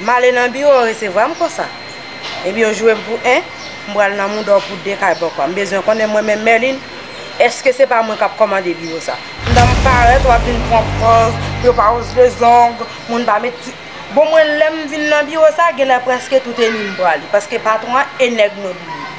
M ale nan biwo yo resevwa m konsa. Epi yo joure m pou 1, m pral nan mouda w pou 2 kay bòkò. M bezwen konnen mwen menm Merline, èske se pa mwen k ap kòmande biwo sa? M ta m parèt w ap vin pran pòz pou yo pa woz le zong, moun pa met ti. Bon mwen lè m vin nan biwo sa, genlè prèske tout e mi m pran li. Paske patwon an e nèg mwen pou li.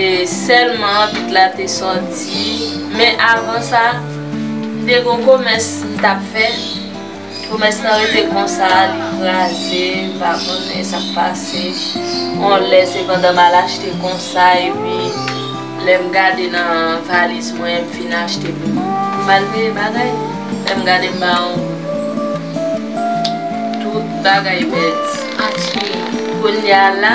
e sèlman anbit la te sòti men avan sa te gon komès m tap fè komès lan rete konsa li kraze m pa konnen sak pase on lè se pandan mal achte konsa epi lèm gade nan valiz mwen m fin achte pou m al peye bagay lèm gade m ba on tout bagay pèdi kounya la.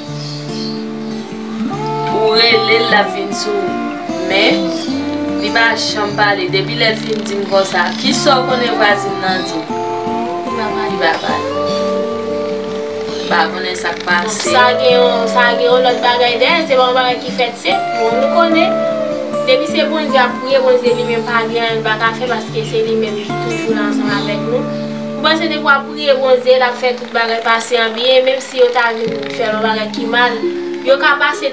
Ou relel lap vin sou ou men Li pa janm pale depi lèl fin dim konsa kisaw konnen vwazin nan di Li pa pale Li pa konnen sak pase Sa gen yon lòt bagay dèyèl se pa yon bagay ki fèt senp non nou konnen depi se Bondye ap priye Bondye li menm pa gen anyen li paka fè paske se li menm ki toujou la ansanm avèk nou ou panse depi wap priye Bondye lap fè tout. bagay pase an byen, menm si yo ta vin fè l yon bagay ki mal, yo ka pase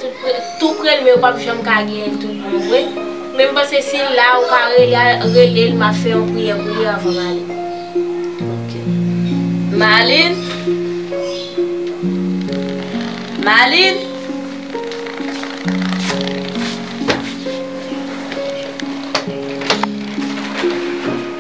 tou pre l men yo p ap janm ka genyen l tout bon vre. Men m panse si l la, ou ka rele l, m ap fè yon priyè pou li anvan m ale. Ok. Malin? Malin?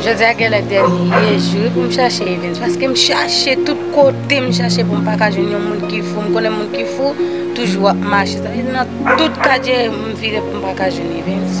Jodi a genlè dènye jou pou m chache Evens paske m chache tout kote m chache pou m pa ka jwenn yon moun ki fou m konnen moun ki fou toujou ap mache sa vle di nan tout katye m vire pou m pa ka jwenn Evens.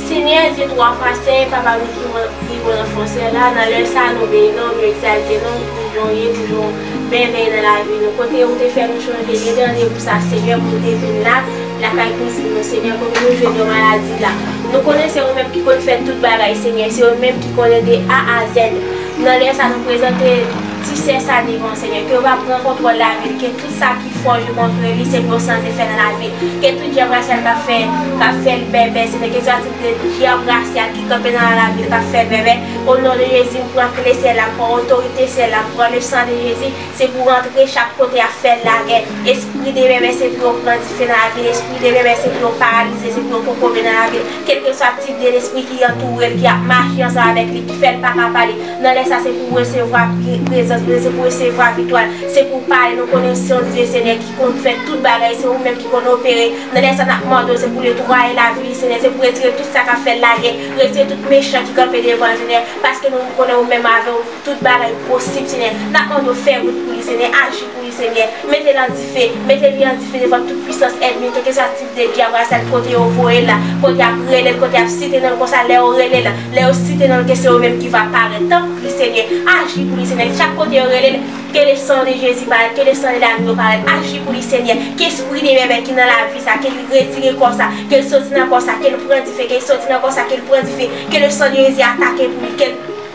Senyè Dye twa fwa sen, Papa nou ki nan li ou nan fon syèl la, nan lè sa a nou beni non ou, nou egzalte non ou pou jan ou ye, pou jan ou mèvèye nan lavi nou, kote ou te fè nou chanje, gen de randevou sa Senyè pou nou te vin la, lakay kouzin nou Senyè, kote nou jwenn yon maladi la, nou konnen se ou menm ki konn fè tout bagay Senyè, se ou menm ki konnen de A a Z, nan lè sa nou prezante ti sè sa devan ou Senyè, ke ou va pran kontwòl lavi li, ke. Tout sa ki fo yo montre li se bon sans e fè nan lavi. Ke tout djab rasyal kap fè kap fè l bèbè se te kesyon atik de djab rasyal ki kanpe nan lavi l kap fè l bèbè. O non de Jezi m pran kle syèl la m pran otorite syèl la m pran le san de Jezi se pou rantre chak kote ap fè l lagè espri de bèbè se pou yo pran dife nan lavi l espri de bèbè se pou yo paralize se pou yo kokobe nan lavi l kelkeswa tip de lespri ki antoure l ki ap mache ansanm avèk li ki fè l paka pale Nan lè sa se pou w resevwa prezans Bondye, se pou w resevwa viktwa l, se pou w pale, nou konnen w se yon Dye Senyè ki konn fè tout bagay, se ou menm ki konn opere, nan lè sa nap mande w se pou w netwaye lavi li Senyè, se pou w retire tout sa kap fè l lagè, retire tout mechan ki kanpe devan l Senyè, paske nou konnen ou menm avè w tout bagay posib Senyè, nap mande w fè wout pou li Senyè, aji pou li Senyè, mete l an dife, mete li an dife devan tout pwisans ènmi, kèlkeswa Depi apre sa li pote yo voye la, kote yap rele l, kote yap site non l konsa lè yo rele l, lè yo site non l ke se yo menm ki va parèt. Tanpri Senyè, aji pou li Senyè, chak kote yo rele l, ke le sang de Jezi parèt, ke le sang de Dagno parèt, aji pou li Senyè, ke espri de bèbè ki nan lavi sa, ke li retire kò sa, ke l soti nan kò sa, ke l pran dife, ke l soti nan kò sa, ke l pran dife, ke le sang de Jezi atake pou li, ke l.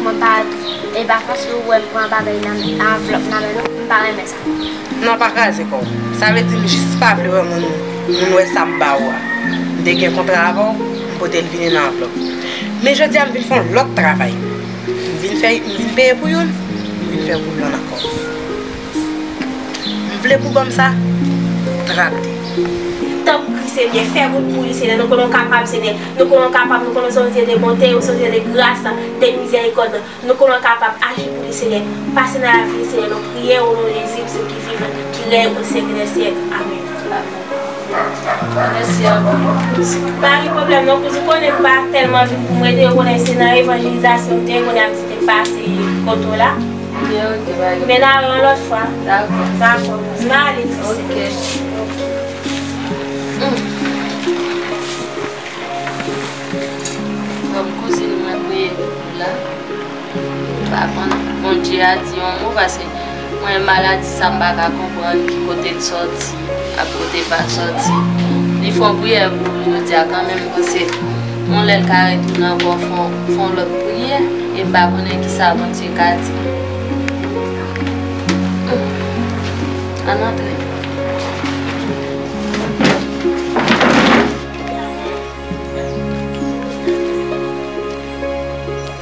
Mwen pa e pa fòs si ou wèm pran bagay nan anvlòp nan men nou, m pa renmen sa. Non pa kraze kò w. Sa vle di m jis pa vle wè moun moun wè sa m ba ou a. M te gen kontra avè w, m pote l vini nan anvlòp. Men jodi a m vin fè yon lòt travay. M vin fè m vin peye pou youn, m vin fè pou youn ankò. M vle pou banm sa trap di. Tanpri Senyè, fè wout pou li, Senyè, nou konnen w kapab, Senyè. Nou konnen w kapab, nou konnen w se yon Dye de bonte, ou se yon Dye de gras, de mizèrikòd. Nou konnen w kapab, aji pou li, Senyè. Pase nan lavi li, Senyè, nou priye o non de Jezi, Bondye ki vivan, ki rèy o syèk dè syèk. Amen. Mèsi anpil. Pa gen pwoblèm non kouz, ou konnen m pa tèlman vin pou m rete, ou konnen se nan evanjelizasyon m te ye, kounye a m ti te pase kote w la. Men la yon lot fwa. Dako. Dako. M nan ale ti sè. Ok. Bon kouzin mwen priye pou nou la. M pa konn Bondye a di yon mo pase mwen maladi sa m pa ka konprann ki kote l soti. Ak kote pa soti. Li fò priyè pou nou jodia kanmenm pase yon lè ka retounen ankò fon lòt priyè e pa konnen kisa Bondye ka di nou. Ann antre.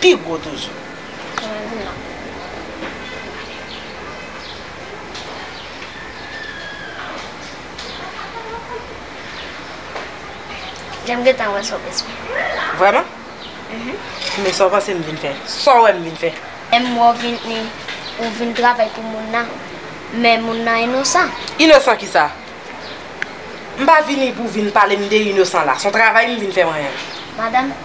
pi gwo toujou. Janm gentan wè sa w esplike m la. Vrèman? Uhmm. Men sa w panse m vin fè? Sa w wè m vin fè? M wè w vin ni ou vin travay pou moun nan. Men moun nan inosan. Inosan ki sa? M pa vini pou w vin pale m de inosan la. S on travay m vin fè mwen. Madanm.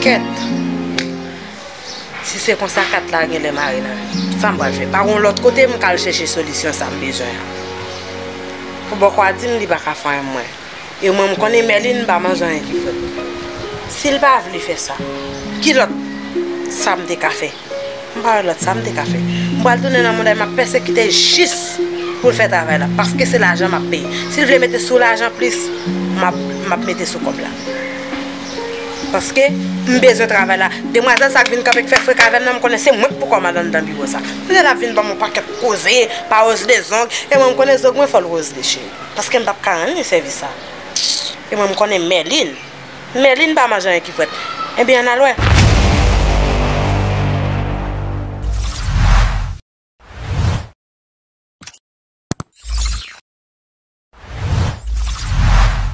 Kèt! Si se konsa kat la genlè mare nan mi. Sa m pral fè? Pa gen yon lòt kote m ka al chèche solisyon sa m bezwen an? Pou bòkò a di m li pa ka fanyen mwen. E mwen m konnen Mèlin pa manj anyen ki frèt. Si l pa vle fè sa, ki lòt sa m te ka fè? M pa wè lòt sa m te ka fè. M pral tounen nan monday m ap pèsekite jis pou l fè travay la paske se lajan m ap peye. Si l vle mete sou lajan plis m ap mete sou kòb la. Paske m bezwen travay la. Demwazèl sa k vin kanpe k fè frek avè m nan m konnen se mwen k pou kò m al anndan biwo sa. Pou tèt l ap vin ban m yon pakèt koze, pa Rosle zong. E mwen m konnen zog mwen fò l Rosle cheri. Paske m p ap ka rann li sèvis sa. E mwen m konnen Mèlin. Merline pa manje anyen ki fret. Ebyen ann al wè.